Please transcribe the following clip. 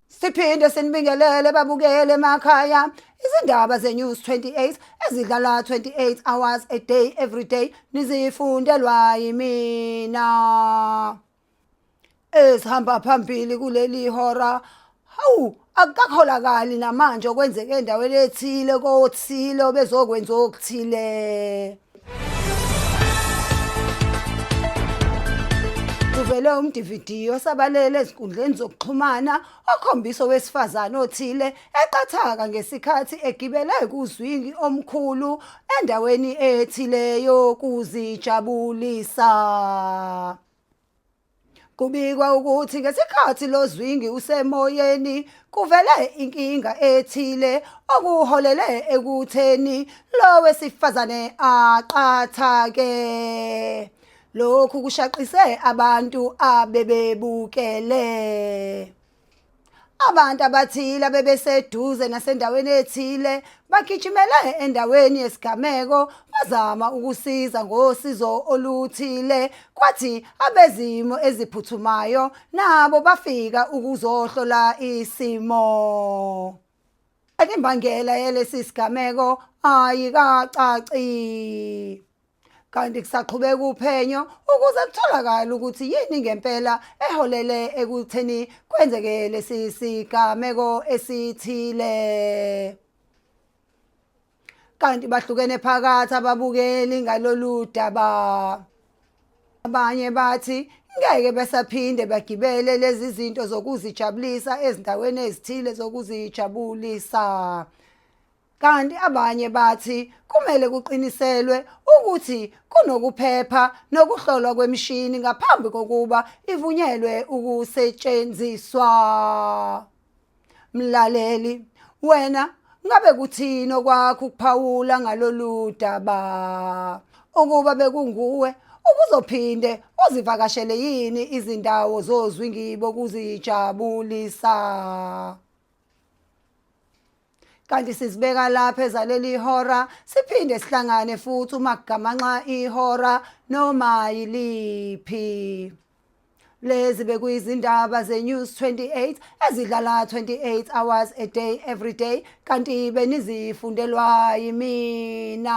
Siphinde sinibingelele babukele emakhaya izindaba zeNews 28 ezidlala 28 hours a day every day nizifundelwa yimina. Esihamba phambili kuleli hora Hawu, akukakholakali namanje okwenzeke endaweni ethile kothile obezokwenza okuthile. Kuvele umdividiyo osabalele ezinkundleni zokuxhumana okhombisa owesifazane othile eqathaka ngesikhathi egibele kuzwingi omkhulu endaweni ethile yokuzijabulisa. Kubikwa ukuthi ngesikhathi lo zwingi usemoyeni kuvele inkinga ethile okuholele ekutheni lo wesifazane aqathake. Lokhu kushaqise abantu abebebukele. Abantu abathile abebeseduze nasendaweni ethile bagijimele endaweni yesigameko bazama ukusiza ngosizo oluthile kwathi abezimo eziphuthumayo nabo bafika ukuzohlola isimo. Imbangela yalesi sigameko ayikacaci kanti kusaqhubeka uphenyo ukuze kutholakale ukuthi yini ngempela eholele ekutheni kwenzeke lesi sigameko esithile. kanti bahlukene phakathi ababukeli ngalolu daba abanye bathi ngeke besaphinde bagibele lezi zinto zokuzijabulisa ezindaweni ezithile zokuzijabulisa kanti abanye bathi kumele kuqiniselwe ukuthi kunokuphepha nokuhlolwa kwemishini ngaphambi kokuba ivunyelwe ukusetshenziswa Mlaleli, wena ngabe kuthini okwakho ukuphawula ngalolu daba? Ukuba bekunguwe, ubuzophinde uzivakashele yini izindawo zozwi ngibo kuzijabulisa? kanti sizibeka lapha ezaleli ihora siphinde sihlangane futhi uma kugamanxa ihora noma yiliphi Lezi bekuyizindaba zeNews 28 ezidlala 28 hours a day every day kanti benizifundelwa yimina.